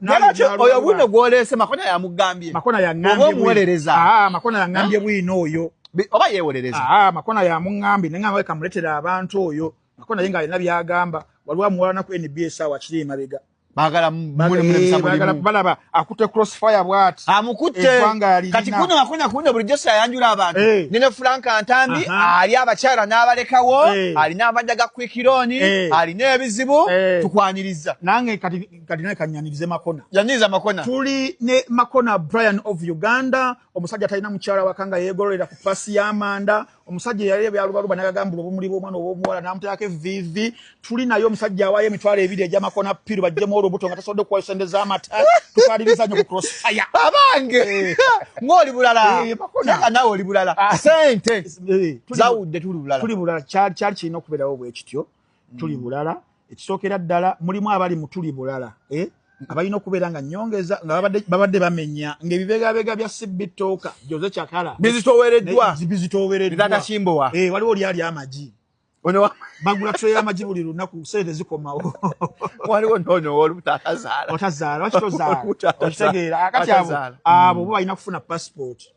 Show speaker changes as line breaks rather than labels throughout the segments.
Nalaki oyo
bwino gwolese makona ya mugambye. Makona ya ngambye. Obo
muwelereza. Ah, makona
ya ngambye
bwino oyo. Oba yewelereza.
Ah, makona ya mungambye
nenga ngwe kamuletera abantu oyo. Makona yenga alina byagamba. Walwa muwala na ku NBS awa kiri mabega. Bagala
mune mune msambo. Eh, bagala
balaba akute crossfire bwati. Amukute. Eh,
Kati kuno makona kuno buri Jose ayanjura abantu. Hey. Eh. Nene Frank Antambi ali abachara nabalekawo. Hey. Ali nabadaga kwikironi. Hey. Ali nebizibu. Hey. Tukwaniriza. Nange kati
kati naye kanyanirize makona yaniriza makona tuli
ne
makona brian of uganda omusajja talina mukyala wakanga yegololera ku pasi y'amanda omusajja yali ebyalubaluba nagagambula obumuli bw'omwana obwomuwala namuteerako eviivi tuli naye omusajja awaayo emitwalo ebiri egya makona piru bajjemu olubuto nga tasobodde okuwayo sente z'amata tukaliriza nyo ku crossfire abange eh.
ng'oli bulala eh, makona nawe oli bulala ah. sente eh, zawudde tuli bulala tuli bulala kyali kirina okubeerawo
bwekityo tuli bulala ekisookera ddala mulimu abali mu tuli bulala eh? abalina okubeera nga nyongeza nga babadde bamenya ngaebibegabega bya sibitooka joze cakala bizitowereddwabizitowereddwaatakimbowa
eh, waliwo lyali amagi
bagula tray yamagi buli lunaku sente zikomawo waliwo
nonowoolutazaala otazaala wakitozaala
okitegeera kati abo abo balina kufuna passport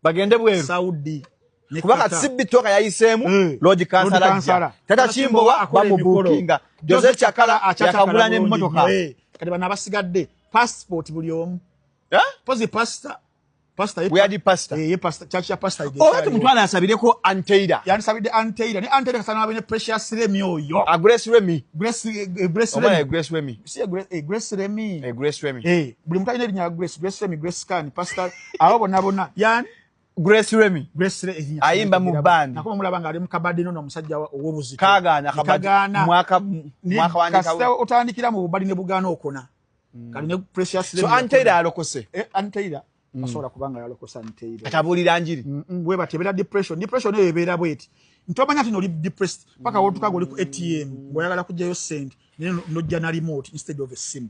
bagende
bweru saudi
kuba kati sibbi
toka yayiseemu eh, lodi kansala ajja tata kimbowa bamubukinga jose cakala yakagula n'emmotoka eh, kati bano abasigadde passport buli omu eh? pozi pasta
omutwala asabireko
anteira yandisabidde anteira
ne anteira kasana abe ne precious remi oyo ah, grace remi
grace remi
buli mutalina erinya grace grace remi grace can pastor abo bona bona yani Grace Remy
Grace Remy ayimba mu band nakoma mulaba nga ali mu kabadi
no musajja owobuzi kagana kabadi
mwaka mwaka wandika
kasta otandikira mu bubali ne bugana okona mm. kali ne Precious Remy so Antaira alokose
eh Antaira
mm. asobola kubanga yalokosa Antaira atabulira njiri mm
-mm. we batebera
depression depression ne ebera bweti ntobanya tino li depressed paka mm. wotuka goli ku ATM boyagala kujayo send ne no jana remote instead of a sim